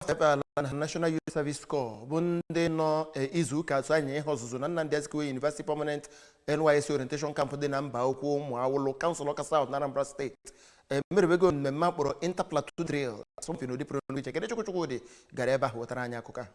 efe ala nna National Youth Service Corps bụ ndị nọ eh, izu ụka atọ anya ihe ọzụzụ na Nnamdi Azikiwe University Permanent NYSC Orientation Camp dị na Mbaukwu Ụmụawụlụ kansụl Ọka South na Anambra steeti emeribego mmemme a kpọrọ Inter-platoon Drill asọmpi n'ụdị pụrụ iche Kenechukwu Chukwudị gara ebe ahụ wetara anyị akụkọ a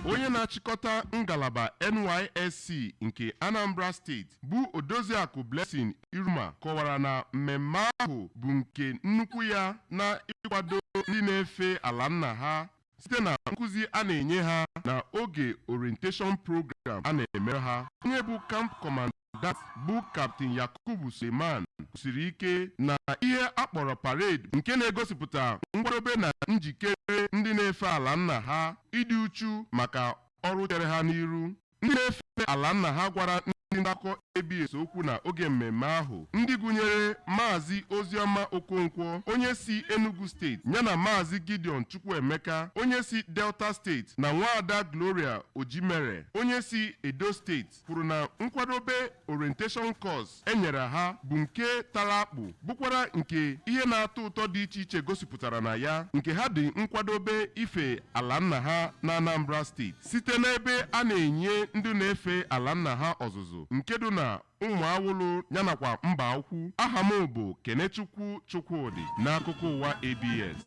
onye na-achịkọta ngalaba NYSC nke Anambra steeti bụ Odoziakụ Blessing Iruma kọwara na mmemme ahụ bụ nke nnukwu ya na ịkwado ndị na-efe ala nna ha site na nkụzi a na-enye ha na oge orientation program a na-eme ha onye bụ camp command ant bụ Kaptin Yakubu Suleiman kwusiri ike na ihe a kpọrọ parade nke na-egosipụta nkwadobe na njikere ndị na-efe ala nna ha ịdị uchu maka ọrụ chere ha n'iru ndị na-efe ala nna ha gwara ndị nta akụkọ ABS okwu na oge mmemme ahụ ndị gụnyere Maazị Oziọma Okonkwo onye si Enugu steeti yana Maazị Gideon Chukwuemeka onye si Delta steeti na Nwaada Gloria Ojimere onye si Edo steeti kwuru na nkwadobe orientation course e nyere ha bụ nke tara akpụ bụkwara nke ihe na-atọ ụtọ dị iche iche gosipụtara na ya nke ha dị nkwadobe ife ala nna ha na Anambra steeti site n'ebe a na-enye ndị na-efe ala nna ha ọzụzụ nke dị na Ụmụawụlụ yanakwa Mbaukwu aha m bụ Kenechukwu Chukwudị n'akụkọ ụwa ABS